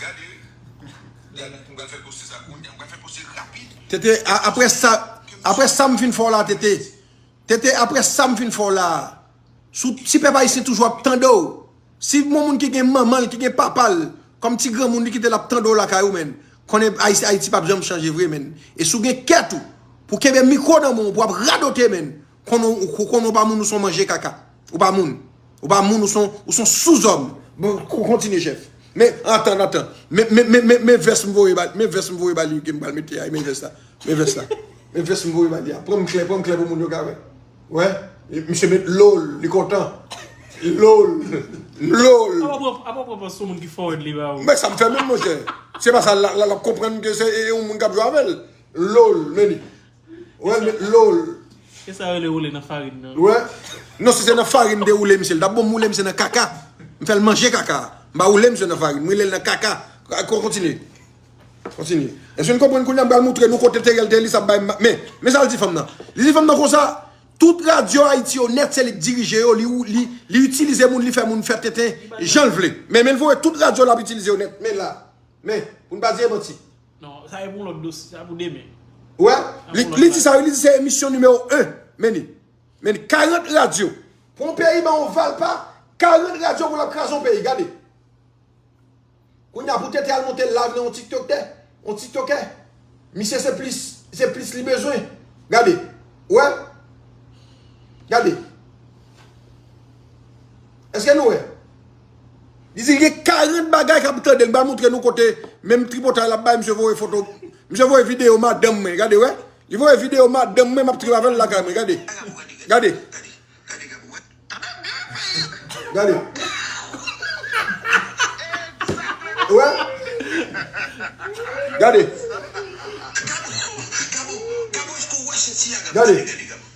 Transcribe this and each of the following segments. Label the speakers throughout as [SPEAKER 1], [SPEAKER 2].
[SPEAKER 1] Gade Gade m pral fè poste sa kounya m pral fè poste rapid. Tete aprè
[SPEAKER 2] sa aprè sa m fin fè w la Tete Tete aprè sa m fin fè w la sou si pèp ayisyen toujou ap tande w si yon moun ki gen manman l ki gen papa l kòm ti granmoun li kite l ap tande w lakay ou menn konnen Ayiti pap janm chanje vre menn e si w gen kè tou pou w kenbe mikwo nan men w pou w ap radote menn. Konn ou ou konn ou pa moun ou son manje kaka ou pa moun ou pa moun ou son ou son souzòm bon kontinye chèf men antann antann men men men men men vès m voye ba men vès m voye ba li ke m pral mete a men vès la men vès la men vès m voye ba li a pran m klè pran m klè pou moun yo ka wè wè misye met lo l li kontan lo l lo l
[SPEAKER 3] Apa pran apa pran pran sou moun ki fòwèd li ba ou. men sa m fè menm monchè
[SPEAKER 2] se pa sa l la l ap konprann ke se e yon moun k ap jwe avè l lo l men li. Wè met loll. E sa rele woule
[SPEAKER 3] nan farin nan. Wè. Non
[SPEAKER 2] si se nan farin mte woule misye li tap bon moule misye nan kaka. Mfèl manje kaka a. Mpa woule misye nan farin mwoulel nan kaka. Kon kontinye. Kontinye. Eske nou konprann kounya mpral moutre nou kote Theriel te li sa bay ma men. Men sal di fanm nan. Li di fanm nan konsa tout radyo ayiti yo nèt se lik dirije yo li ou li li itilize moun li fè moun fè tenten janl vle. Men menl voye tout radyo lap itilize yo nèt men la. Men. Poun pa di e manti. Non, sa e pou lòt
[SPEAKER 3] dosye, sa pou demen. Wè,
[SPEAKER 2] li di sa wi, li di se emisyon nimewo 1, men ni. Men ni, 40 radyo. Pou yon peyi ban ou valpa, 40 radyo pou l ap kraze yon peyi, gade. Kounya pou TT al monte live nan yon tiktoktè, yon tiktokè, misye se plis, se plis li bezwen. Gade, wè. Gade. Eske nou wè? Li di gen 40 bagay kap tandel ba moutre nou kote menm tripotay lap bay misye voye foto misye voye video madanm mwen gade wè li voye video madanm mwen map trip avèl lakay mwen gade gade gade wè gade gade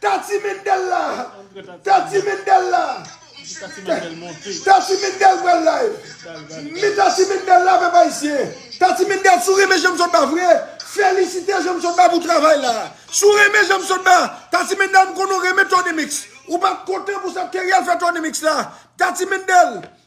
[SPEAKER 2] Tati mendel la Tati mendel la Tati mendel pral live Min tati mendel la pèp ayisyen Tati mendel sou renmen janm sotba vre felisite janm sotba pou travay la sou renmen janm sotba tati mendel m konnen w renmen tony mix ou pat kontan pou sa teriel fè tony mix la tati mendel